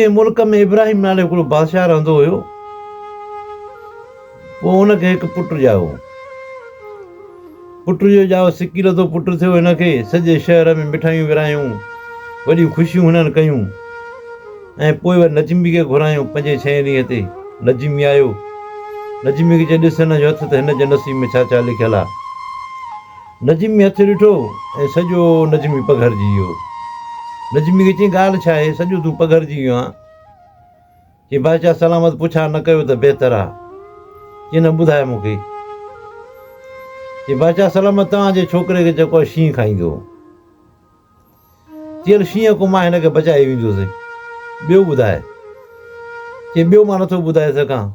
ڪنهن ملڪ ۾ ابراهيم نالي هڪڙو بادشاهه رهندو هيو پوء هن کي هڪ پٽ ڄايو پٽ جو ڄايو سڪي لڌو پٽ ٿيو هن کي سڄي شهر ۾ مٺايون ورهايون وڏيون خوشيون هنن ڪيون ۽ پوء وري نجمي کي گهرايو پنجين ڇهين ڏينهن تي نجمي آيو نجمي کي چيو ڏس هن جو هٿ ته هن جي نصيب ۾ ڇا ڇا لکيل آهي نجمي هٿ ڏٺو ۽ سڄو نجمي پگهرجي ويو. نجمي کي چيائين ڳالهه ڇا آهي؟ سڄو تون پگهرجي ويو آن؟ چيائين بادشاهه سلامت پڇا نه ڪيو ته بهتر آ. چيائين نه ٻڌاء مون کي. چيائين بادشاهه سلامت توهان جي ڇوڪري کي جيڪو آ شينهن کائيندو. چيائين هل شينهن کان مان هن کي بچائي ويندوس. ٻيو ٻڌاء. چيائين ٻيو مان نٿو ٻڌائي سگهان.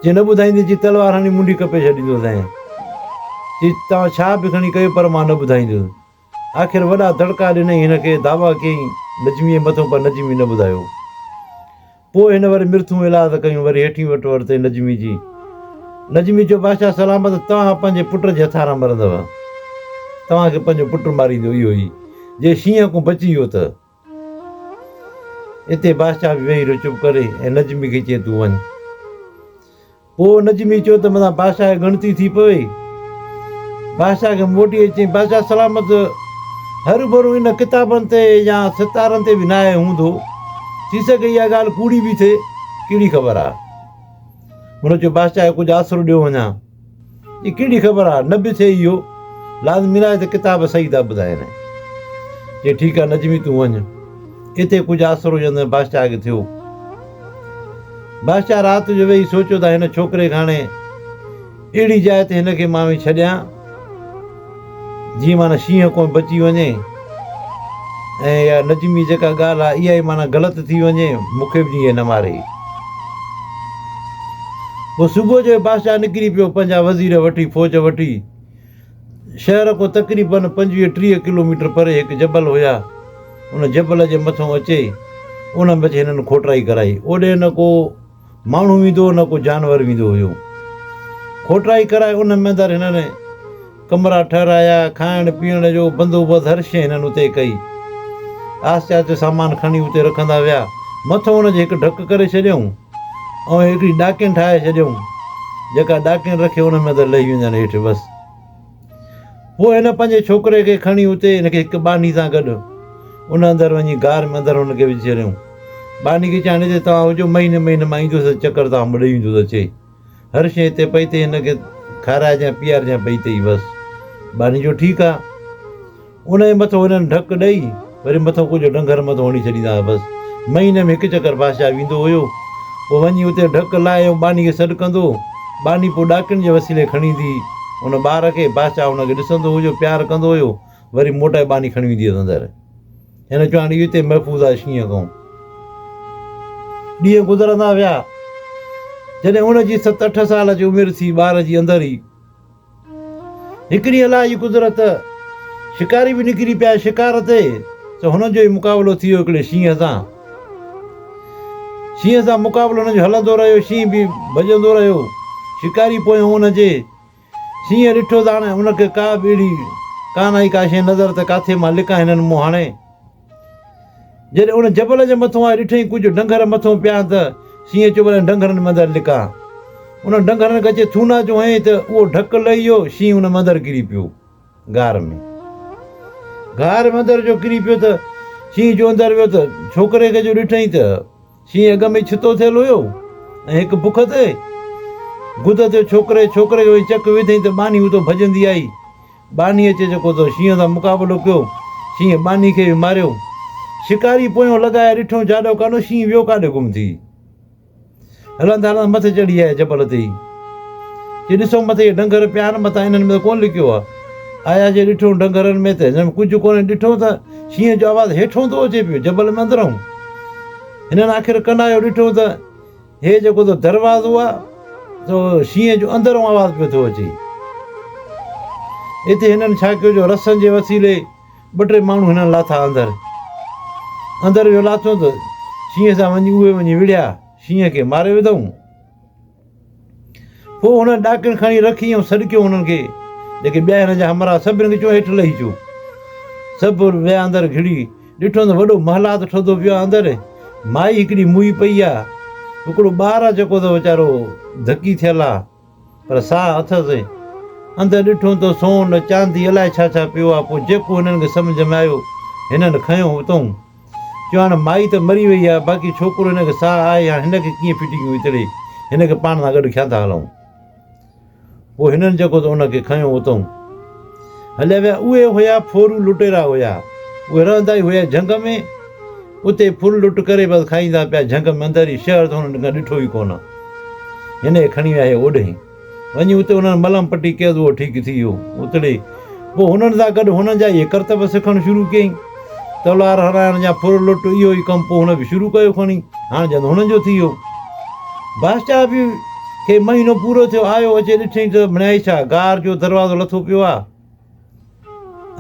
جي نه ٻڌائيندين چي تلوار هڻي منڍي ڪپي ڇڏيندوسين. چي توهان ڇا به کڻي ڪيو پر مان نه ٻڌائينديس. آخر وڏا دڙڪا ڏنائين هن کي دعويٰ ڪيائين نجميء مٿو پر نجمي نه ٻڌايو. پوء هن وري مرٿون ايلاز ڪيون وري هيٺين وٽ ورتئي نجمي جي. نجمي چيو بادشاهه سلامت توهان پنهنجي پٽ جي هٿان نه مرندوء. توهان کي پنهنجو پٽ ماريندو اهو ئي جي شينهن کون بچي ويو ته. اتي بادشاهه به ويهي رهيو چپ ڪري ۽ نجمي کي چئي تون وڃ. پوء نجمي چيو ته متان بادشاهه کي ڳڻتي ٿي پوي. بادشاهه کي موٽي اچي چيائين بادشاهه سلامت هروڀرو ان ڪتابن تي يا ستارن تي به ناهي هوندو. ٿي سگهي اها ڳالهه ڪوڙي به ٿئي ڪهڙي خبر آهي. هن چيو بادشاهه کي ڪجهه آسرو ڏيو وڃان. جي ڪهڙي خبر آ نه به ٿئي اهو لازمي ناهي ته ڪتاب صحيح ٿا ٻڌائين. چي ٺيڪ آ نجمي تون وڃ اتي ڪجهه آسرو جندء باششاهه کي ٿيو. باششاهه رات جو ويهي سوچيو ته هن ڇوڪري کي هاڻي اهڙي جاء تي هن کي مان وڃي ڇڏيان. جي معنيٰ شينهن ڪونهي بچي وڃي ۽ يا نجمي جيڪا ڳالهه آهي اها ئي معنيٰ غلط ٿي وڃي مونکي به جيئي نه ماري. پوء صبح جو ئي بادشاهه نڪري پيو پنهنجا وزير وٺي فوج وٺي شهر کان تقريباً پنجويهه ٽيهه ڪلوميٽر پري هڪ جبل هيا ان جبل جي مٿئون اچي ان ۾ اچي هنن کوٽرائي ڪرائي اوڏي نه ڪو ماڻهو ويندو هو نه ڪو جانور ويندو هيو. کوٽرائي ڪرائي ان ۾ اندر هنن ڪمرا ٺهرايا، کائڻ پيئڻ جو بندوبست هر شيء هنن اتي ڪئي. آهستي آهستي سامان کڻي اتي رکندا ويا. مٿو ان جي هڪ ڍڪ ڪري ڇڏيائون ۽ هڪڙي ڏاڪڻ ٺاهي ڇڏيائون جيڪا ڏاڪڻ رکي ان ۾ اندر لهي ويندن هيٺ بس. پوء هن پنهنجي ڇوڪري کي کڻي اتي هن کي هڪ ٻانهي سان گڏ ان اندر وڃي غار ۾ اندر هن کي وجهي ڇڏيائون. ٻانهي کي چيائين هتي توهان هجو مهيني مهيني مان ايندس ۽ چڪر توهان مون ڏي ويندس اچي هر شيء هتي پئي تئي هن کي کارائجانء پيارجانء پئي تئي بس. ٻانهي چيو ٺيڪ آ. ان جي مٿو هنن ڍڪ ڏئي وري مٿو ڪجهه ڊنگر مٿو هڻي ڇڏيندا هئا بس مهيني ۾ هڪ چڪر بادشاهه ويندو هيو پوء وڃي اتي ڍڪ لائي ۽ ٻانهي کي سڏ ڪندو ٻانهي پوء ڏاڪڻ جي وسيلي کڻي ايندي هئي ان ٻار کي بادشاهه ان کي ڏسندو هيو پيار ڪندو هيو وري موٽائي ٻانهي کڻي ويندي هيس اندر هن چواڻي اهو اتي محفوظ آهي شينهن کان ڏينهن گذرندا ويا جڏهن ان جي ست اٺ سال جي عمر ٿي ٻار جي اندر ئي هڪ ڏينهن الله جي قدرت شڪاري به نڪري پيا شڪار تي ته هنن جو ئي مقابلو ٿي ويو هڪڙي شينهن سان. شينهن سان مقابلو هنن جو هلندو رهيو شينهن به ڀڄندو رهيو شڪاري پويان هن جي شينهن ڏٺو ته هاڻي هن کي ڪا به اهڙي ڪانه آئي ڪا شيء نظر ته ڪاٿي مان لڪان هنن مون هڻي. جڏهن ان جبل جي مٿون آء ڏٺئين ڪجهه ڍنگهر مٿون پيا ته سينهن چيو انهن ڍنگهرن ۾ اندر لڪان. انهن ڍنگهرن کي اچي ٿونا جو هنئين ته اهو ڍڪ لهي ويو، شينهن ان ۾ اندر ڪري پيو. غار ۾. غار ۾ اندر جو ڪري پيو ته شينهن جو اندر ويو ته ڇوڪري کي جو ڏٺئين ته شينهن اڳ ۾ ئي ڇتو ٿيل هيو ۽ هڪ بک تي گدت جو ڇوڪري ڇوڪري جو هي چڪ وڌيئين ته ٻانهي اتو ڀڄندي آئي. ٻانهي اچي جيڪو ته شينهن سان مقابلو ڪيو. شينهن ٻانهي کي به ماريو. شڪاري پويون لڳائي ڏٺو جاڏو ڪانو شينهن ويو ڪاڏي گم ٿي. هلندا هلندا مٿي چڙهي آيا جبل تي ئي. چي ڏسو مٿي اهي ڊنگر پيا آهن متان انهن ۾ ته ڪونه لڪيو آهي. آيا جي ڏٺو ڊنگرن ۾ ته هن ۾ ڪجهه ڪونهي، ڏٺو ته شينهن جو آواز هيٺئون ٿو اچي پيو، جبل ۾ اندرئون. هنن آخر ڪنايو ڏٺو ته هي جيڪو ته دروازو آهي، سو شينهن جو اندرئون آواز پيو ٿو اچي. اتي هنن ڇا ڪيو جو رسن جي وسيلي ٻه ٽي ماڻهو هنن لاٿا اندر. اندر ويو لاٿو ته شينهن سان وڃي اهي وڃي وڙهيا، شينهن کي ماري وڌئون. پوء هن ڏاڪڻ کڻي رکي ۽ سڏڪيو انهن کي، جيڪي ٻيا هن جا همراهه سڀني کي چيو هيٺ لهي اچو. سڀ ويا اندر گهڙي ڏٺو ته وڏو محلات ٺهندو پيو آهي اندر مائي هڪڙي موئي پئي آهي هڪڙو ٻار آهي جيڪو ته ويچارو ڌڪي ٿيل آهي پر ساهه اٿس اندر ڏٺو ته سون چاندي الائي ڇا ڇا پيو آهي پوء جيڪو هنن کي سمجهه ۾ آيو هنن کنيو اتئون چيو هاڻ مائي ته مري وئي آهي باقي ڇوڪرو هن کي ساهه آهي هاڻ هن کي ڪيئن ڦٽي ڪيون اتڙي هن کي پاڻ سان گڏ کيان ٿا هلائون. پوء هنن جيڪو ته ان کي کنيو اتئون هليا ويا اهي هيا ڦورو لٽيرا هيا اهي رهندا ئي هيا جهنگ ۾ اتي ڦر لٽ ڪري بس کائيندا پيا جهنگ ۾ اندر هي شهر ته هنن ڪنهن ڏٺو ئي ڪونه هن کي کڻي ويا هي اوڏهين. وڃي اتي انهن ملم پٽي ڪيس اهو ٺيڪ ٿي ويو اتڙي پوء هنن سان گڏ هنن جا اهي ڪرتب سکڻ شروع ڪيائين تلوار هرائڻ يا ڦر لٽ اهو ئي ڪم پوء هن به شروع ڪيو کڻي هاڻ جند هنن جو ٿي ويو بادشاهه به کي مهينو پورو ٿيو آيو اچي ڏٺئي ته مڻيائي ڇا غار جو دروازو لٿو پيو آ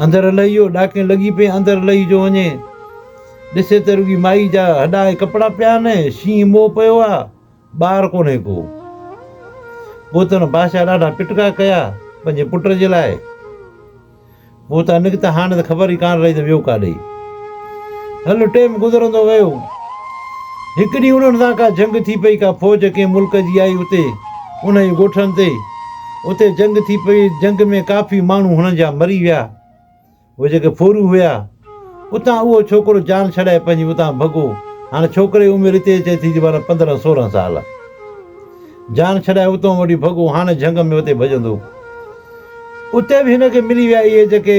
اندر لهي ويو ڏاڪين لڳي پئي اندر لهي جو وڃي ڏسي ته رڳي مائي جا هڏا ۽ ڪپڙا پيا آهن شينهن موهه پيو آ ٻار ڪونهي ڪو. پوء ته هن بادشاهه ڏاڍا پٽڪا ڪيا پنهنجي پٽ جي لاء. پوء اتان نڪتا هاڻي ته خبر ئي ڪانه رهي ته ويو ڪاڏي. هل ٽيم گذرندو ويو. هڪ ڏينهن انهن سان ڪا جنگ ٿي پئي ڪا فوج ڪنهن ملڪ جي آئي اتي انهن جي ڳوٺن تي. اتي جنگ ٿي پئي جنگ ۾ ڪافي ماڻهو هنن جا مري ويا. اهي جيڪي ڦورون هيا، اتان اهو ڇوڪرو جان ڇڏائي پنهنجي اتان ڀڳو. هاڻ ڇوڪري جي عمر هتي اچي ٿي جي معنيٰ پندرهن سورهن سال. جان ڇڏائي اتان وٺي ڀڳو، هاڻ جهنگ ۾ اتي ڀڄندو. اتي به هن کي ملي ويا اهي جيڪي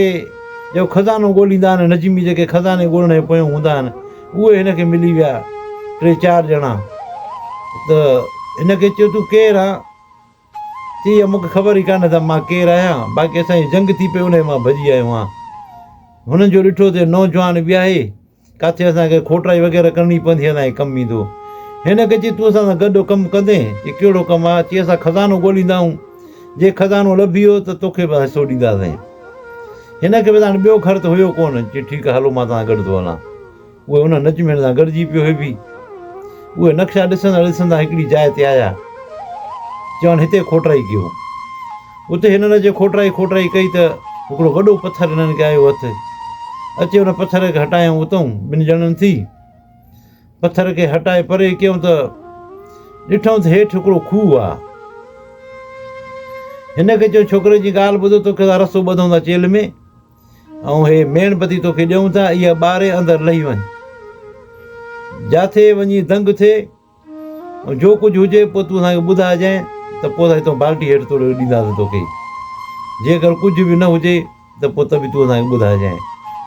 جيڪو خزانو ڳوليندا آهن، نجمي جيڪي خزاني ڳولڻ جي پويان هوندا آهن، اهي هن کي ملي ويا ٽي چار ڄڻا ته هن کي چيو تون ڪير آن؟ چي مون کي خبر ئي ڪانه ته مان ڪير آهيان باقي اسان جي جنگ ٿي پئي انهي مان ڀڄي آيو آهيان هنن جو ڏٺو ته نوجوان وياهي ڪاٿي اسان کي کوٽائي وغيره ڪرڻي پوندي اسان جي ڪم ايندو هن کي چي تون اسان سان گڏ ڪم ڪندين چي ڪهڙو ڪم آهي چي اسان خزانو ڳوليندا آهيون جي خزانو لڀي ويو ته توکي به حصو ڏينداسين هن کي به هاڻي ٻيو گهر ته هيو ڪونه چي ٺيڪ آهي هلو مان توهان سان گڏ ٿو هلان اهي انهن نجمين سان گڏجي پيو هيبي. اهي نقشا ڏسندا ڏسندا هڪڙي جاء تي آيا. چيائون هتي کوٽرائي ڪيو. اتي هنن جي کوٽرائي کوٽرائي ڪئي ته هڪڙو وڏو پٿر هنن کي آيو هٿ. اچي ان پٿر کي هٽايائون اتئون ٻن ڄڻن ٿي. پٿر کي هٽائي پري ڪيائون ته ڏٺائون ته هيٺ هڪڙو کوهه آ. هن کي چيائون ڇوڪري جي ڳالهه ٻڌ توکي اسان رستو ٻڌون ٿا چيلهه ۾. ائون هي ميڻ بتي توکي ڏيئون ٿا، اها ٻاري اندر لهي وڃ. جاٿي وڃي دنگ ٿئي ۽ جو ڪجهه هجي پوء تون اسان کي ٻڌائجانء ته پوء اسان هتان بالٽي هيٺ توڙي ڏينداسين توکي. جيڪر ڪجهه به نه هجي ته پوء ته به تون اسان کي ٻڌائجانء.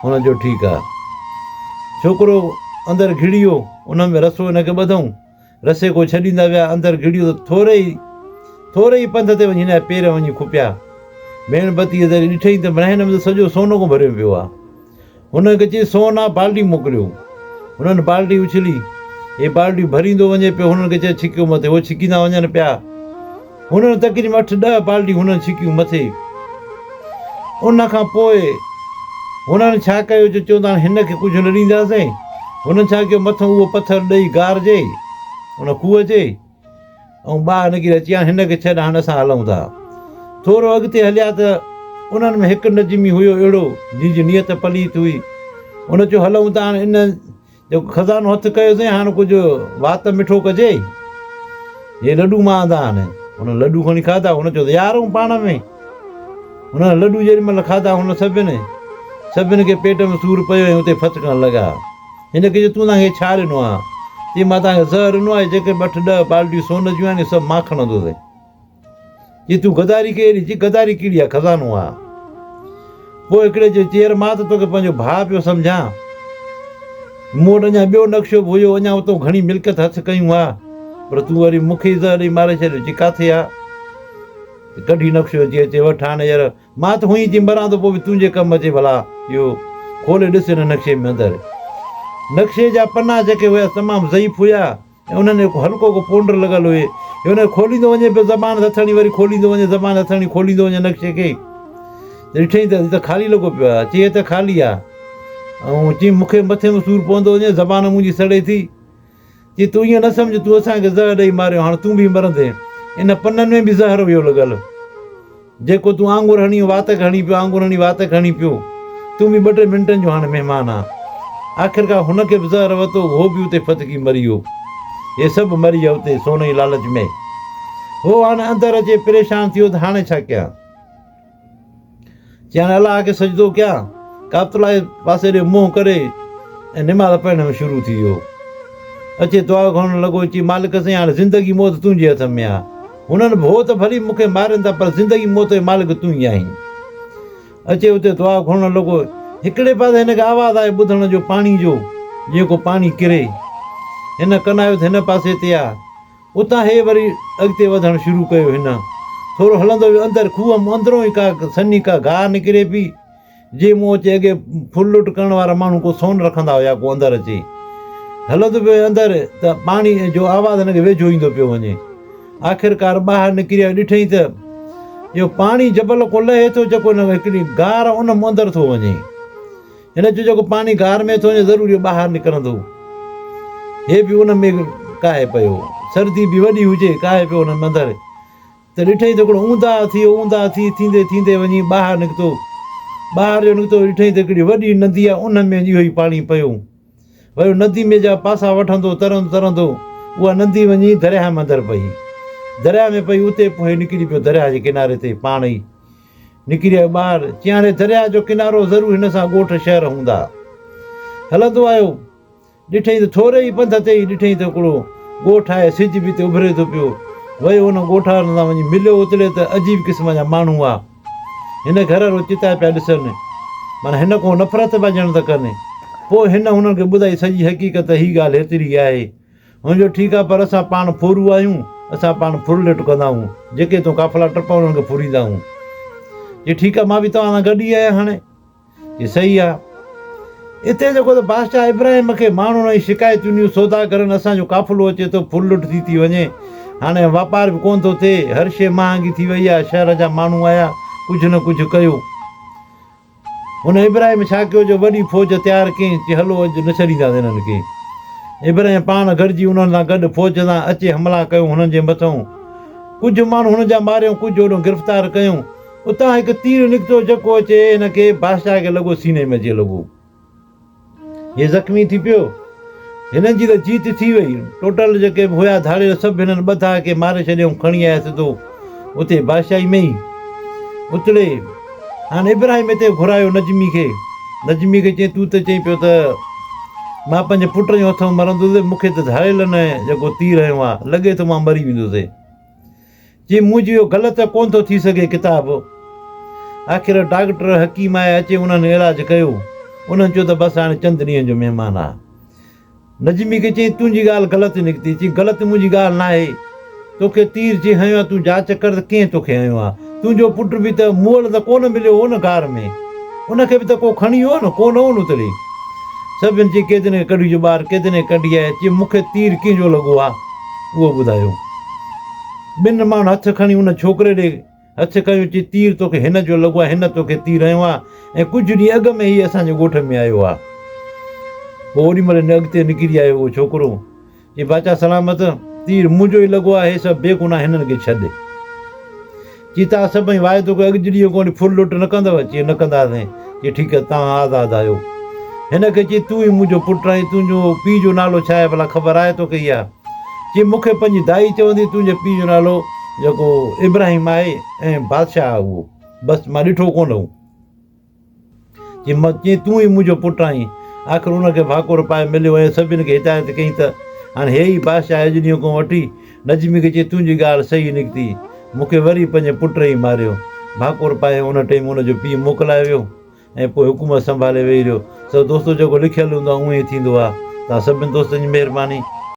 هن چيو ٺيڪ آ. ڇوڪرو اندر گهڙي ويو. ان ۾ رسو هن کي ٻڌئون. رسي ڪو ڇڏيندا ويا، اندر گهڙيو ته ٿوري ئي ٿوري ئي پنڌ تي وڃي هن جا پير وڃي کپيا. ميڻ بتيء ذريعي ڏٺئين ته برهني ۾ ته سڄو سون ڪو ڀريو پيو آ. هن کي چيس سون آ، بالٽي موڪليو. هنن بالٽي اڇلي. هي بالٽيون ڀريندو وڃي پيو. هنن کي چيس ڇڪيو مٿي. هو ڇڪيندا وڃن پيا. هنن تقريبن اٺ ڏهه بالٽيون هنن ڇڪيون مٿي. ان کان پوء هنن ڇا ڪيو جو چون ٿا هن کي ڪجهه نه ڏينداسين. هنن ڇا ڪيو مٿئون اهو پٿر ڏئي غار جي ان کوهه جي ۽ ٻاهر نڪري اچي هاڻ هن کي ڇڏ هاڻ اسان هلون ٿا. ٿورو اڳتي هليا ته انهن ۾ هڪ نجمي هيو اهڙو جنهن جي نيت پليت هئي. هن چيو هلون ٿا هاڻ ان جيڪو خزانو هٿ ڪيو سين هاڻ ڪجهه وات مٺو ڪجي هي لڏو مان آندا آهن هن لڏو کڻي کادا هن چيو يار هون پاڻ ۾ هن لڏو جيڏي مهل کادا هن سڀني سڀني کي پيٽ ۾ سور پيو ۽ اتي ڦٿڪڻ لڳا هن کي تون تانکي ڇا ڏنو آهي چي مان تانکي زهر ڏنو آهي جيڪي ٻه اٺ ڏهه بالٽيون سون جون آهن سڀ مان کڻندوسين جي تون غداري ڪئي آهي چي غداري ڪهڙي آهي خزانو آهي پوء هڪڙي چيو چيئر مان ته توکي پنهنجو ڀاء پيو سمجهان مون وٽ اڃا ٻيو نقشو به هيو اڃا اتو گهڻي ملڪيت هٿ ڪيون ها پر تون وري مون کي زهر ڏئي ماري ڇڏيو چي ڪاٿي آهي ڪڍي نقشو اچي اچي وٺ هاڻي يار مان ته هئين چي مران ٿو پوء به تنهنجي ڪم اچي ڀلا اهو کولي ڏس هن نقشي ۾ اندر نقشي جا پنا جيڪي هيا تمام ضعيف هيا ۽ انهن ۾ ڪو هلڪو ڪو پونڊر لڳل هئي جو انهن کي کوليندو وڃي پيو زبان هٿڻي وري کوليندو وڃي زبان هٿڻي کوليندو وڃي نقشي کي ته ڏٺئي ته هي ته خالي لڳو پيو آهي چئي هي ته خالي آهي ۽ چئي مونکي مٿي ۾ سور پوندو وڃي زبان منهنجي سڙي ٿي چئي تون ائين نه سمجهه تون اسان کي زهر ڏئي ماريو هاڻ تون به مرندين ان پنن ۾ به زهر هيو لڳل جيڪو تون آڱر هڻي واتڪ هڻي پيو آڱر هڻي واتڪ هڻي پيو تون به ٻه ٽي منٽن جو هاڻي مهمان آن. آخرڪار هن کي به زهر وتو هو به اتي ڦٿڪي مري ويو. اهي سڀ مري ويا اتي سون جي لالچ ۾. هو هاڻي اندر اچي پريشان ٿيو ته هاڻي ڇا ڪيان؟ چيائين الله کي سجدو ڪيان ڪعبت الله جي پاسي ڏي منهن ڪري ۽ نماز پڙهڻ ۾ شروع ٿي ويو. اچي دعا گهرڻ لڳو چي مالڪ سائين هاڻي زندگي موت تنهنجي هٿ ۾ آ. هنن ڀو ته ڀلي مون کي مارين ٿا پر زندگي موت جو مالڪ تون ئي آهين. اچي اتي دعا گهرڻ لڳو. هڪڙي پاسي هن کي آواز آيو ٻڌڻ جو پاڻي جو جيئن ڪو پاڻي ڪري. هن ڪن آيو ته هن پاسي تي آ. اتان هي وري اڳتي وڌڻ شروع ڪيو هن. ٿورو هلندو ويو اندر کوهه مان اندرون ئي ڪا سنهي ڪا گاهه نڪري پئي. جي مون اچي اڳي ڦل لٽ ڪرڻ وارا ماڻهو ڪو سون رکندا هيا ڪو اندر اچي هلندو پيو اندر ته پاڻي جو آواز هن کي ويجهو ايندو پيو وڃي آخرڪار ٻاهر نڪري ڏٺئي ته جو پاڻي جبل کان لهي ٿو جيڪو هن هڪڙي گار ان مون اندر ٿو وڃي هن چيو جيڪو پاڻي گار ۾ ٿو وڃي ضروري ٻاهر نڪرندو هي به ان ۾ ڪاهي پيو سردي به وڏي هجي ڪاهي پيو هن اندر ته ڏٺئي ته هڪڙو اونداهه هٿي اونداهه ٿي ٿيندي ٿيندي وڃي ٻاهر نڪتو. ٻاهر جو نڪتو ته ڏٺئي ته هڪڙي وڏي ندي آهي ان ۾ وڃي اهو ئي پاڻي پيو ويو ندي ۾ جا پاسا وٺندو ترندو ترندو اها ندي وڃي درياهه ۾ اندر پئي درياهه ۾ پئي اتي پوء نڪري پيو درياهه جي ڪناري تي پاڻ ئي نڪري آيو ٻاهر چيائين هاڻي درياهه جو ڪنارو ضرور هن سان ڳوٺ شهر هوندا هلندو آيو ڏٺئي ته ٿوري ئي پنڌ تي ئي ڏٺئي ته هڪڙو ڳوٺ آهي، سج به اتي اڀري ٿو پيو. ويو ان ڳوٺ وارن سان وڃي مليو اتلي ته عجيب قسم جا ماڻهو هئا. هن گهر رو چتاء پيا ڏسن. معنيٰ هن ڪو نفرت پيا ڄڻ ته ڪن. پوء هن هنن کي ٻڌائي سڄي حقيقت ته هي ڳالهه هيتري ئي آهي. هن چيو ٺيڪ آهي پر اسان پاڻ ڦورو آهيون، اسان پاڻ ڦرلٽ ڪندائون. جيڪي هتون قافلا ٽپا انهن کي ڦوريندائون. چي ٺيڪ آهي مان به توهان سان گڏ ئي آهيان هاڻي. هي صحيح آ. اتي جيڪو ته بادشاهه ابراهيم کي ماڻهن ۽ شڪايتون ڏنيون، سوداگرن اسان جو قافلو اچي ٿو، ڦر لٽ ٿي ٿي وڃي، هاڻي واپار به ڪونه ٿو ٿئي، هر شيء مهانگي ٿي وئي آ، شهر جا ماڻهو آيا، ڪجهه نه ڪجهه ڪيو. هن ابراهيم ڇا ڪيو جو وڏي فوج تيار ڪيائين، چي هلو اڄ نه ڇڏينداسين هنن کي. ابراهيم پاڻ گڏجي انهن سان گڏ فوج سان اچي حملا ڪيو هنن جي مٿئون. ڪجهه ماڻهو هنن جا ماريائون، ڪجهه هوڏانهن گرفتار ڪيائون. اتان هڪ تير نڪتو جڪو اچي هن کي بادشاهه کي لڳو سيني ۾ اچي لڳو. هي زخمي ٿي پيو. هنن جي ته جيت ٿي وئي. ٽوٽل جيڪي به هيا ڌاڙيل سڀ هنن ٻڌا ڪي ماري ڇڏي ۽ کڻي آيا سڌو اتي بادشاهي ۾ ئي. اتڙي هاڻ ابراهيم هتي گهرايو نجمي کي. نجمي کي چيائين تون ته چئين پيو ته مان پنهنجي پٽ جي هٿ ۾ مرندوسي مون کي ته ڌاڙيلن جيڪو تير هنيو آهي لڳي ٿو مان مري ويندوسي. چي مون جيو غلط ته ڪونه ٿو ٿي سگهي ڪتاب آخر ڊاڪٽر حڪيم آيا اچي انهن علاج ڪيو انهن چيو ته بس هاڻي چند ڏينهن جو مهمان آ نجمي کي چيائين تنهنجي ڳالهه غلط نڪتي چي غلط منهنجي ڳالهه ناهي توکي تير جي هنيو آ تون جاچ ڪر ته ڪنهن توکي هنيو آ تنهنجو پٽ به ته مئل ته ڪونه مليو هو نه غار ۾ ان کي به ته ڪو کڻي ويو نه ڪونه هو نتڙي سڀن چي ڪيدني کي ڪڍي جو ٻاهر ڪيدني ڪڍي آيا چي مون کي تير ڪنهن جو لڳو آ. اهو ٻڌايو. ٻن ماڻهن هٿ کڻي ان ڇوڪري ڏي هٿ ڪيو چي تير توکي هن جو لڳو آهي هن توکي تير هنيو آهي ۽ ڪجهه ڏينهن اڳ ۾ هي اسان جي ڳوٺ ۾ آيو آهي. پوء اوري مهل هن اڳتي نڪري آيو اهو ڇوڪرو چي باچا سلامت تير منهنجو ئي لڳو آهي هي سڀ بيگناهه هنن کي ڇڏ. چي توهان سڀئي واعدو ڪيو اڳ جهڙي ڪوڙي ڦر لٽ نه ڪندؤ؟ چي نه ڪنداسين. چي ٺيڪ آهي توهان آزاد آهيو. هن کي چي تون ئي منهنجو پٽ آهين تنهنجو پيء جو نالو ڇا آهي ڀلا خبر آهي توکي اها؟ چي مون کي پنهنجي دائي چوندي تنهنجي پيء جو نالو جيڪو ابراهيم آهي ۽ بادشاهه آهي اهو بس مان ڏٺو ڪونه هو. جي مت جي تون ئي منهنجو پٽ آهين. آخر ان کي ڀاڪر پائي مليو ۽ سڀن کي هدايت ڪئي ته هاڻي هيء ئي بادشاهه اجنيو کان وٺي نجمي کي چئي تنهنجي ڳالهه صحيح نڪتي. مون کي وري پنهنجي پٽ ئي ماريو. ڀاڪر پائي ان ٽيم ان جو پيء موڪلائي ويو ۽ پوء حڪومت سنڀالي ويهي رهيو. سو دوستو جيڪو لکيل هوندو آهي اوهين ئي ٿيندو آهي. توهان سڀني دوستن جي مهرباني.